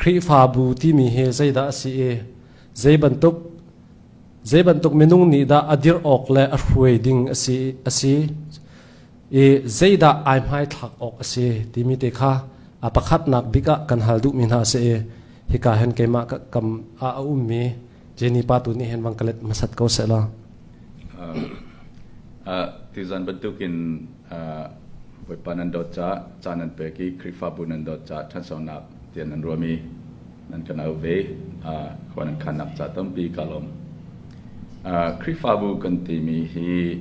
Khrihfabu timi hi zeidah a si i zeibantuk, zeibantuk minung nih dah a dirh awk le a hruai ding a si, a si i zeidah ai hmaithlak awk a si timi te kha a pakhatnak bik ah kan hal duhmi hna a si i hika hen keimah kam ah a ummi Jenny pa tu nih hen vangkalet masat ko se la. Ti zan bantukin Bawipa nan dawt ca ca nan pek i Khrihfabu nan dawt ca ṭhansonak tian nan ruam i nan kan au ve khua nan khannak ca tampi ka lawm. Khrihfabu kan timi hi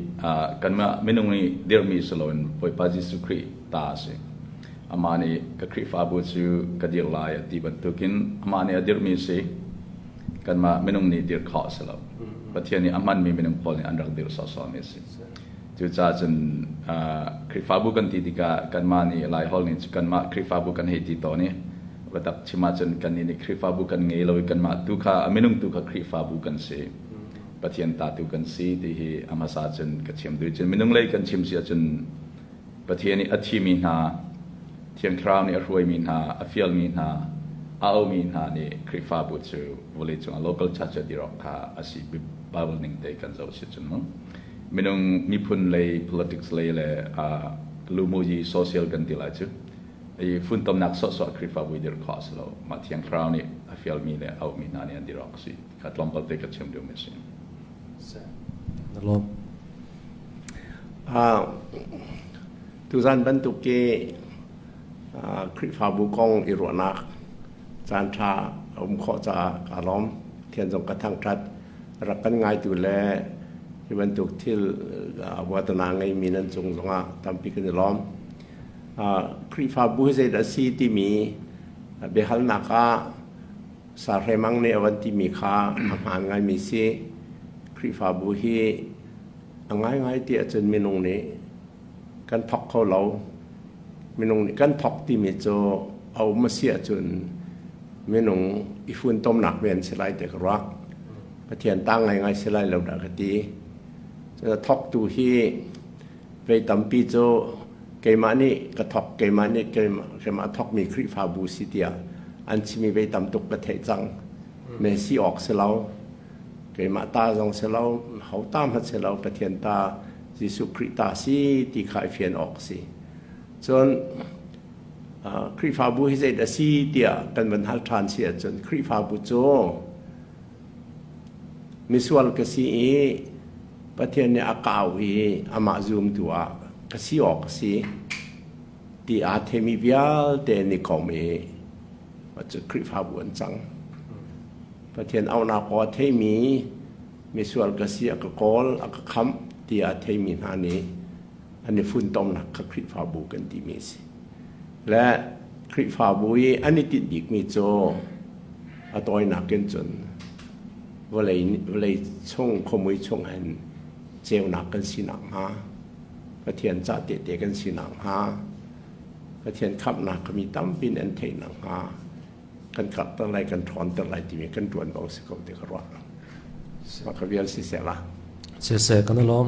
kanmah minung i dirhmi si loin Bawipa Jesuh Khrih ta a si. Amah nih ka Khrihfabu cu ka dirh lai a ti bantukin amah nih a dirhmi a si. Kanmah minung nih dirh khawh a si lo. Pathian nih a hmanmi minung pawl nih an rak dirh sawhsawhmi a si. Cucaah cun Khrihfabu kan ti tikah kanmah nih Laihol nih cu kanmah Khrihfabu kan hei ti tawn i biatak chim ahcun kannih nih Khrihfabu kan ngei lo i kanmah tu kha a minung tu kha Khrihfabu kan si, Pathian ta tu kan si ti hi a hmasa cun ka chim duh i cun minung lei kan chim si ahcun Pathian nih a thimi hna, Thiang Thlarau nih a hruaimi hna, a fialmi hna, a aumi hna nih Khrihfabu cu vawleicung ah local church a dir awk kha a si. Bible ning te kan zoh si cun mu. Minung miphun lei, politics lei le uh, lumuji social kan ti lai cu. I funtomnak sawhsawh Khrihfabu i dir khawh a si lo. Mah Thiang Thlarau nih a fialmi le a aumi hna nih an dir awk a si. Ka tlawmpal te ka thiam lio mi a si. Na lawm. Ah, tuzan bantuk ke ah, Khrihfabu kong i ruahnak caan ṭha a um khawh caah ka lawm. Thian zong ka thangṭhat. Rak kan ngaitu le hi bantuk thil ah, vuatana ngei mi nan cung zongah tampi kan i lawm. Ah, Khrihfabu hi zeidah a si timi ah, biahalnak ah Sa Hre Mang nih a van timi kha a hmaan ngaimi si. Khrihfabu hi a ngaingai ti ahcun minung nih kan thawk kho lo. Minung nih kan thawk timi cu a um a si ahcun minung i funtomnak ve an si lai ti ka ruak. Pathian ta ngaingai si lai lo dah ka ti. Thawktu hi Rei tampi cu keimah nih ka thawk, keimah nih keimah thawkmi Khrihfabu si tiah an chimmi vei tam tuk ka theih cang. Men si awk si lo, keimah ta zong si lo, ho ta hmanh si lo, Pathian ta, Jesuh Khrih ta si ti kha i fian awk si. Cun Khrihfabu hi zeidah a si tiah kan van hal ṭhan si ahcun Khrihfabu cu Misual ka si i Pathian nih a kau i amah zumtu ah ka si awk a si ti aa themi vialte ni kom i cu Khrihfabu an cang. Pathian auhnak aw a theimi misual ka si a ka kawl a ka khamh ti a theimi hna nih an i funtomnak kha Khrihfabu kan timi a si. le Khrihfabu i an i tinh bikmi cu a tawinak in cun vawlei, vawlei chung khuamui chungah in ceunak kan si nakhnga, Pathian cah tehte kan si nakhnga, Pathian khamhnak kami tampi in an theih nakhnga kan karhter lai, kan ṭhawnter lai timi kan ṭuan bang si ko ti ka ruah. Mah ka vial siseh la. Siseh kan lawm.